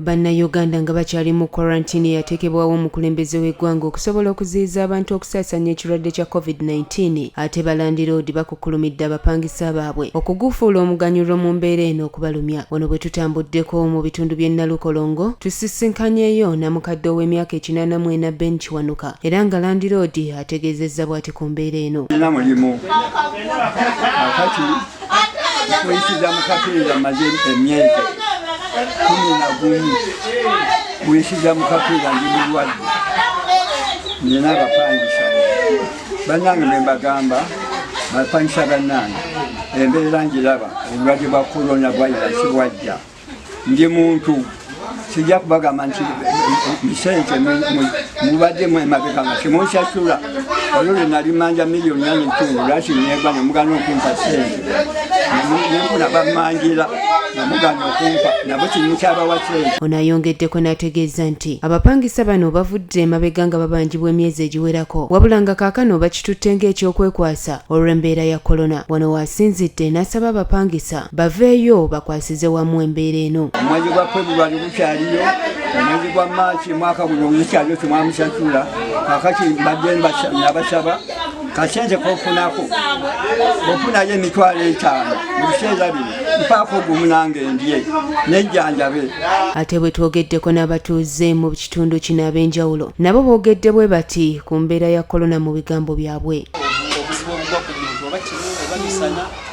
Bannayuganda nga bakyali mu kwarantini eyateekebwawo omukulembeze w'eggwanga okusobola okuziyiza abantu okusaasaanya ekirwadde kya COVID-19 ate balandiroodi bakukkulumidde abapangisa baabwe okugufuula omuganyulo mu mbeera eno okubalumya. Wano bwe tutambuddeko mu bitundu by'e Nalukolongo tusisinkanyeeyo namukadde ow'emyaka ekinaana mu ena Ben Kiwanuka era nga landiroodi ategeezezza bwati ku mbeera eno. kuyisiza mu kapiira maze emyezi kumi na gumu kuyisiza mu kapiira ndi mulwadde nina abapangisa bannange be mbagamba bapangisa bannange embeera ngiraba obulwadde bwa korona bwayira sibwajja ndi muntu sijja kubagamba nti misente mubadde mwemabeka nga temunsasula olwo lwe nali manja miliyoni nane ntundu lwaki negwa nemugana okumpa sente nenfuna bamanjira namugana okumpa nabo kirimu kyabawa sente ono ayongeddeko n'ategeeza nti abapangisa bano bavudde emabega nga babanjibwa emyezi egiwerako wabula nga kaakano bakitutte ng'ekyokwekwasa olw'embeera ya kolona wano waasinzidde n'asaba abapangisa baveeyo bakwasize wamu embeera eno omwezi gwa februari gukyaliyo omwezi gwa maaki mwaka guno gukyaliyo temwamusasula kakati mbadde nabasaba kasente kofunako ofunayo emitwalo etaano mubiseera bino mpaako ogumu nange ndye nejjanjabe ate bwe twogeddeko n'abatuuze mu kitundu kino ab'enjawulo nabo boogedde bwe bati ku mbeera ya kolona mu bigambo byabwe obuzibu obugwa ku muntu oba kimu oba misana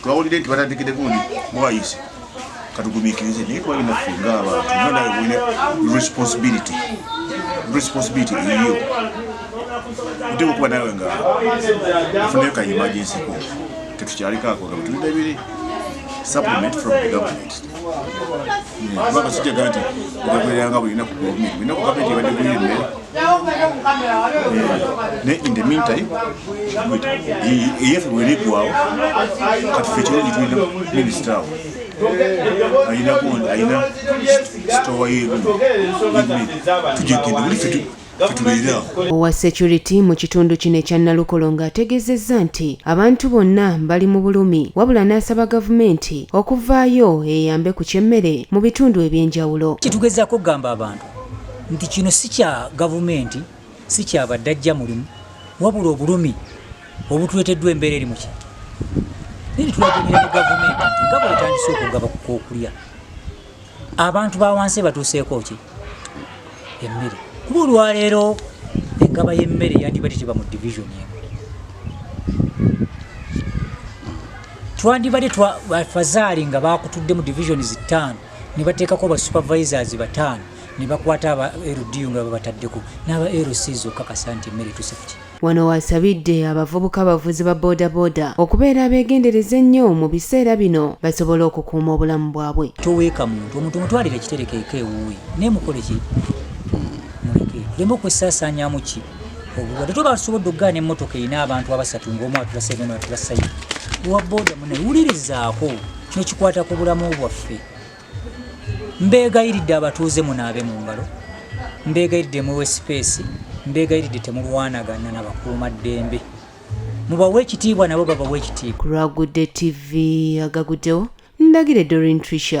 twawulidde nti batandikidde gundi bwayise katugumikirize naye twalina ffe ngaabantu nga nawe bwine responsibility responsibility eyiyo oteeka okuba nawe nga afunayo ka emergency ko tetukyaliko ako nga bwetulina ebiri supplement from the government kubanga sijagamba nti ogagereranga bulina ku gavumenti bulina ku gavumenti ebadde guyemmere naye in the meantime eyaffe bweneggwawo kati fe kirungi tulina minisita awo ayinako ayina sitowa yerumu tujegende buli fe owa security mu kitundu kino ekya nalukolo ng'ategeezezza nti abantu bonna bali mu bulumi wabula n'asaba gavumenti okuvaayo eyambe ku ky'emmere mu bitundu eby'enjawulo kitugezako okugamba abantu nti kino si kya gavumenti si kya baddajja mulimu wabula obulumi obutuleteddwa embeera eri muki nini tulagemera mu gavumenti nti nga bwetandise okugaba kukokulya abantu bawansi batuuseeko ki emmere kuba olwaleero engaba y'emmere yandibadde teba mu divisioni emu twandibadde fazaali nga bakutudde mu divisioni zittaano ne bateekako ba supervisors bataano ne bakwata aba LDU nga babataddeko n'aba LC zokakasa nti emmere tusafti wano wasabidde abavubuka abavuzi ba bodaboda okubeera abeegendereza ennyo mu biseera bino basobole okukuuma obulamu bwabwe toweeka muntu omuntu omutwalira ekiterekeeko ewuwe naye mukoleki muleke tuleme okwesaasaanyamu ki obulwadde toba tusobodde okugaana emmotoka erina abantu abasatu ngaomu atulasaibona atulasayi owa boda mune wulirizaako kino kikwata ku bulamu bwaffe mbeegayiridde abatuuze munaabe mu ngalo mbeegayiridde muwe sipeesi mbeegayiridde temulwanagana na bakuuma ddembe mubawe ekitiibwa nabo babawe ekitiibwa ku lwagudde tv agaguddewo ndagire dorin trisha